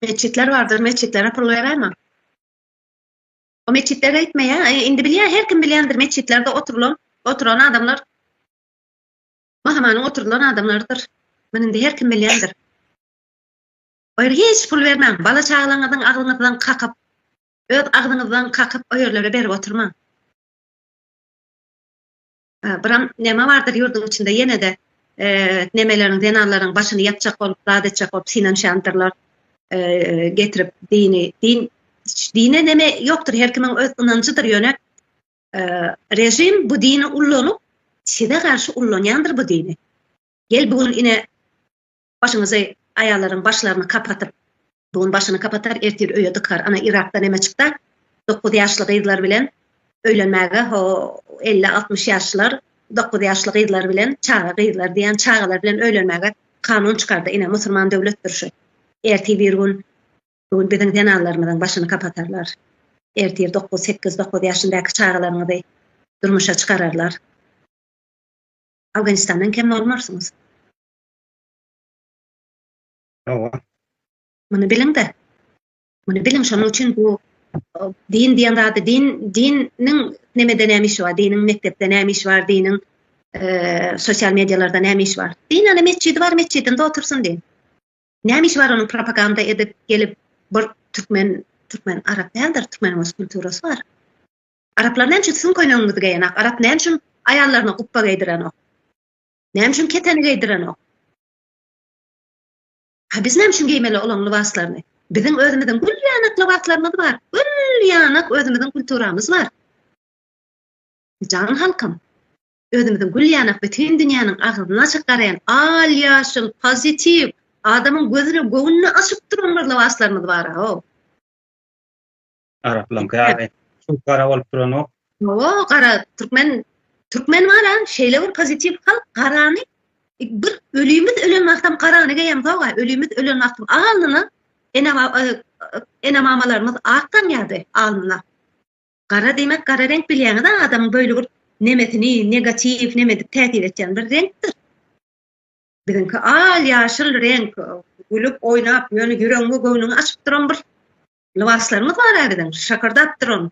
Meçitler bardyr, meçitlere pul beräýme. O meçitlere gitme ya. E, indi bilýär, her kim bilýändir meçitlerde oturulan, oturan adamlar Mahamanyň oturulan adamlarydyr. Muny indi her kim bilýändir. O ýere hiç pul bermäň. Bala çagalaryňyzyň agzyňyzdan kakyp, öz agzyňyzdan kakyp o ýerlere berip oturmaň. Biram neme bardyr ýurduň içinde ýene-de nemeleriň zenanlaryň başyny ýapjak bolup, zat etjek bolup synanyşýandyrlar. Getirip dini, din dine neme ýokdur, her kimiň öz ynanjydyr, ýöne rejim bu dini ullanyp, size garşy ullanýandyr bu dini. Gel bu gün ine Başyňyzy aýallaryň başlaryny kapatyp bu gün başyny kapatar ertir öýe dykar ana Yrakda neme çykda dokuz ýaşly gyzlar bilen öýlenmäge ho elli altmyş ýaşlar dokuz ýaşly gyzlar bilen çaga gyzlar diýen çagalar bilen öýlenmäge kanun çykardy ine musurman döwletdir şu ertir bir gün bu gün biziň zenanlarymyzyň başyny kapatarlar ertir dokuz sekiz dokuz ýaşyndaky çagalaryňyzy durmuşa çykararlar Afganistandan kem bolmarsyňyz. Hawa. Muny biliň-de. Muny biliň, şonuň üçin bu din diýen zady, din, diniň nemede näme işi bar, diniň mekdepde näme işi bar, diniň sosial medialarda näme işi bar. Din ana metjidi bar, metjidinde otursyn din. Näme işi bar onuň propaganda edip gelip bir türkmen, türkmen arap däldir, türkmeniň öz kulturasy bar. Araplar näme üçin siziň köýnegiňizi geýenak, arap näme üçin aýallaryna gupba geýdirenok? Näme üçin keteni geýdirenok? Ha biz näme üçin geýmeli olaň lybaslaryny? Biziň özümiziň gül ýanak lybaslarymyz bar. Gül ýanak özümiziň kulturamyz bar. Jan halkym, özümiziň gül ýanak bütin dünýäniň agzyny açyp garaýan al ýaşyl pozitiw adamyň gözüni göwnüni açyp duran bir lybaslarymyz bar-a. Araplaňky ýaly suw gara bolup duranok. Hawa, gara türkmen türkmen bar-a, şeýle bir pozitiw halk garany e, bir ölümiz ölen wagtam garany geýem sowa, ölümiz ölen wagtam alnyna ene e, ene mamalarymyz ak tanýardy alnyna. Gara diýmek gara reňk bilýäňiz-a adamyň böyle bir nemesini, negatiw nemedik täsir etýän bir reňkdir. Biziňki al ýaşyl reňk, gülüp oýnap, ýöne ýüregiňi göwnüňi açyp duran bir Lybaslaryňyz bar-a biziň, şakyrdap durun.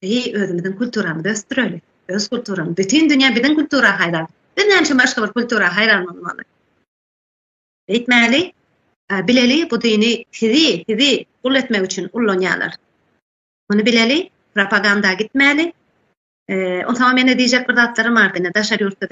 Eý, özümiziň kulturamyzy ösdüreli. Öz kulturamyz, bütin dünýä biziň kultura haýran. Biz näme üçin başga bir kultura haýran bolmaly? Beýtmäli, bileli bu dini sizi, sizi gul etmek üçin ullanýarlar. Muny bileli, propaganda gitmäli. Onsoň meni diýjek bir zatlarym bar, ine daşary ýurtda